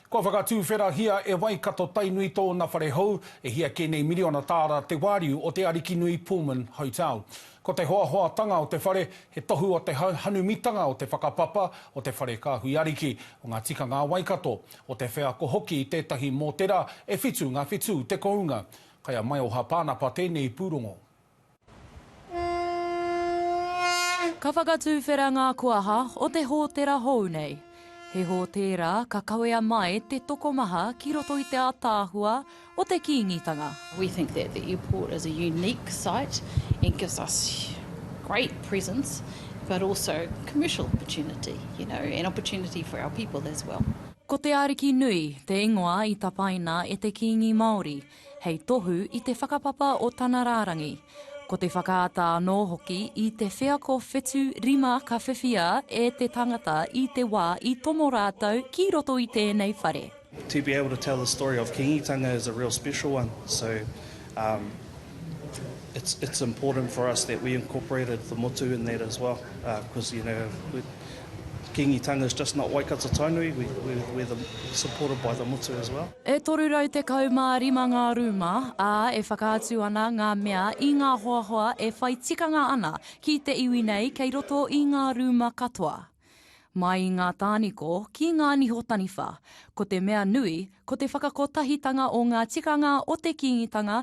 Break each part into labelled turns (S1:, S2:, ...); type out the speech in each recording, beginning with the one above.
S1: Kua whakatuwherahia e Waikato-Tainui tōna whare hou, e hia kē nei miriona tāra te wāriu o te Arikinui Pullman Hotel. Ko te hoahoatanga o te whare, he tohu o te hanumitanga o te whakapapa o te whare kāhui ariki, o ngā tikanga a Waikato, o te wheako hoki i tētahi mōtera e whitu ngā whitū te kounga. Kai a Maioha Pānapa tēnei pūrongo.
S2: Ka whakatuwhera ngā koaha o te hōtera hou nei. He hōtēra ka kawea mai te tokomaha ki roto i te ātaahua o te Kīngitanga. We think that the
S3: airport is a unique site and gives us great presence but also commercial opportunity, you know, and opportunity for our people as well. Ko te Ariki
S2: Nui te ingoa i tapaina e te Kīngi Māori. hei tohu i te whakapapa o tana rārangi. Ko te whakaata anō hoki i te wheako whetū rima ka whiwhia e te tangata i te wā i tomo rātou ki roto i tēnei whare. To be able to tell
S4: the story of Kingitanga is a real special one, so um it's it's important for us that we incorporated the motu in that as well, uh cause you know, Kīngitanga is just not Waikato Tainui, we're the supported by the motu as well. E toru rau tekau
S2: mā rima ngā rūma, ā, e whakaatu ana ngā mea i ngā hoahoa e whai tikanga ana ki te iwi nei kei roto i ngā rūma katoa. Mai i ngā tāniko ki ngā niho taniwha, ko te mea nui ko te whakakotahitanga o ngā tikanga o te Kīngitanga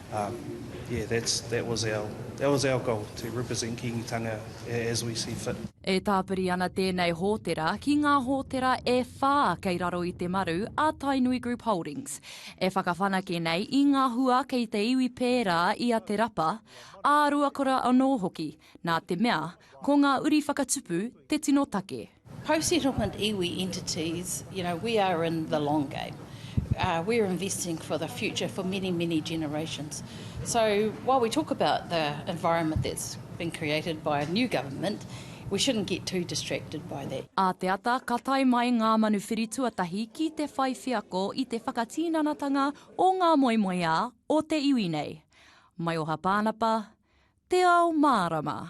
S4: Um, yeah, that's, that was our, that was our goal, to represent Kīngitanga as we see fit. E tāpiri ana
S2: tēnei hōtera ki ngā hōtera e whā kei raro i te maru a Tainui Group Holdings, e whakawhanake nei i ngā hua kei te iwi pērā i a Te Rapa, ā-ruakura anō hoki, nā te mea, ko ngā uri whakatupu te tino take. Post-settlement
S3: iwi entities, you know, we are in the long game. We are investing for the future for many, many generations. So while we talk about the environment that's been created by a new government, we shouldn't get too distracted by that. A te ata ka tae
S2: mai ngā manuwhiri tuatahi ki te whai wheako i te whakatinanatanga o ngā moemoeā o te iwi nei. Maioha Pānapa, Te Ao Mārama.